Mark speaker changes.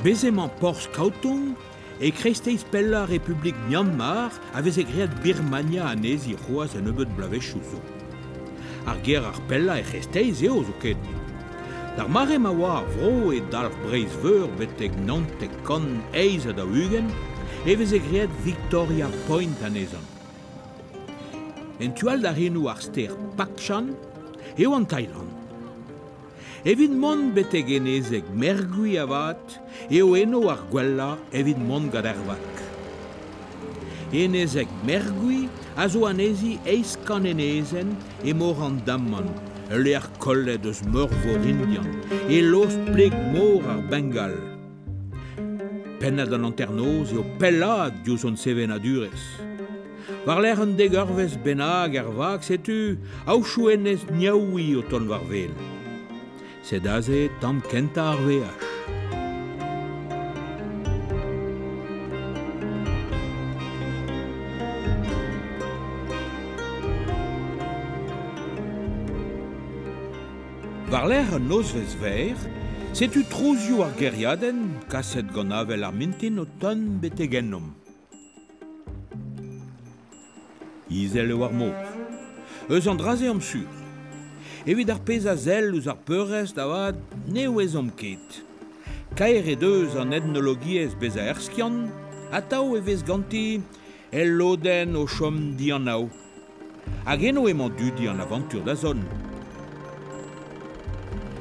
Speaker 1: Bez' emañ porzh Kaotung e kreisteiz pellañ Republik Myanmar a veze graet Birmania anezhi c'hoazh a-nebeut bloavezhioù zo. Ar gêr ar pellañ er c'hreisteiz eo zoken. D'ar mare ma oa ar vro e dalc'h Breizh-Veur betek naontek kant eizh ha daou-ugent e veze graet Victoria Point anezhañ. En tu all da c'henoù ar stêr Pakchan eo an Tailand. Evit mont betek enezeg Mergui avat eo eno ar gwellañ evit mont gant ar vak. Enezeg Mergui a zo anezhi eizh kant enezenn e mor an Daman, ul lec'h kollet eus Meurvor Indian, e lost pleg-mor ar Bengal. Pennad an hanternoz eo pellaat diouzh hon sevenadurezh. War-lerc'h un degeurvezh bennak er vag setu aochoù enez Niaoui o tont war wel. Sed aze tamm kentañ ar veaj. War-lerc'h un nozvezh verr, setu trouzioù ar gêriadenn kaset gant avel ar mintin o tont betek ennomp. Izel eo ar mor. Eus an dra-se am sur. Evit ar pezh a sell ouzh ar peurrest avat ne ouezomp ket. Kaer eo deus an etnologiezh bezañ erskiant, atav e vez ganti el lodenn o chom dianav. Hag eno emañ dudi an avañtur da zont.